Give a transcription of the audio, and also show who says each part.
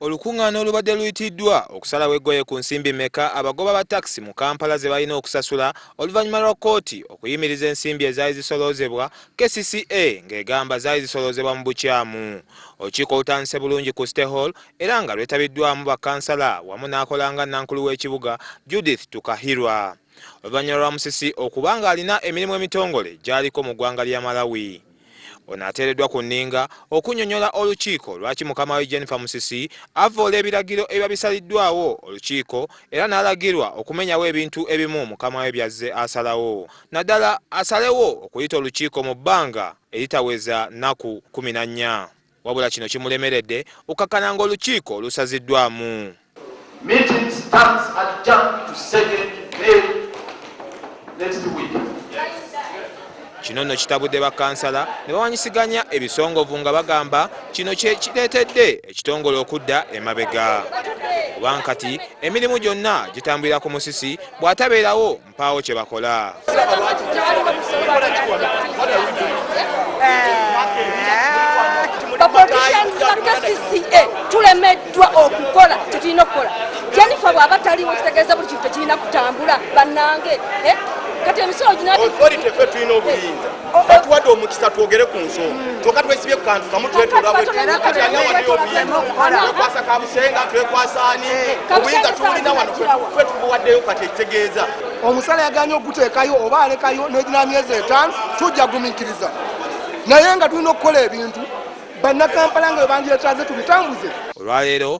Speaker 1: Olukungaana olubadde luyitiddwa okusalawo eggoye ku nsimbi meka abagoba ba taxi mu Kampala zebalina okusasula oluvanyuma lwa kkooti okuyimiriza ensimbi ezaali zisoloozebwa kcca ng'egamba zaali zisoloozebwa mu bukyamu. Olukiiko olutandise bulungi ku City Hall era nga lwetabiddwamu ba kansala wamu n'akola nga nankulu w'ekibuga Judith Tukahirwa oluvanyuma lwa Musisi okuba ng'alina emirimu emitongole gyaliko mu ggwanga lya Malawi. Ono ateereddwa ku nninga okunyonyola olukiiko lwaki mukama we Jennifer Musisi avvoola ebiragiro ebiba bisaliddwawo olukiiko era n'alagirwa okumenyawo ebintu ebimu mukama we byazze asalawo naddala asalewo okuyita olukiiko mu bbanga eritaweza nnaku kkumi na nnya. wabula kino kimulemeredde okukkakkana ng'olukiiko lusaziddwamu. Meeting
Speaker 2: starts adjourned to second May next week.
Speaker 1: Kino nno kitabudde bakkansala ne bawanyisiganya ebisongovu nga bagamba kino kye kireetedde ekitongole okudda emabega. Kubanga kati emirimu gyonna gitambulira ku musisi bw'atabeerawo mpaawo kye bakola.
Speaker 3: tulemeddwa okukola kyetulina okukola jennifer bwaba taliwo kitegeeza buli kintu tekirina kutambula bannange eh? kati emisolo ginafe tulina obuyinza
Speaker 4: batuwadde omukisa twogere ku nsonga kyoka twesibye kukantu kamu twetolawekwasa kabusenga twekwasani obuyinza tuwulina wano fe tubuwaddeyo kati ekitegeeza omusala yaganye
Speaker 5: okuteekayo oba alekayo negina myezi etaano tujja gumiikiriza naye nga tulina okukola ebintu bannakampala nga webandyetaze tubitambuze olwaleero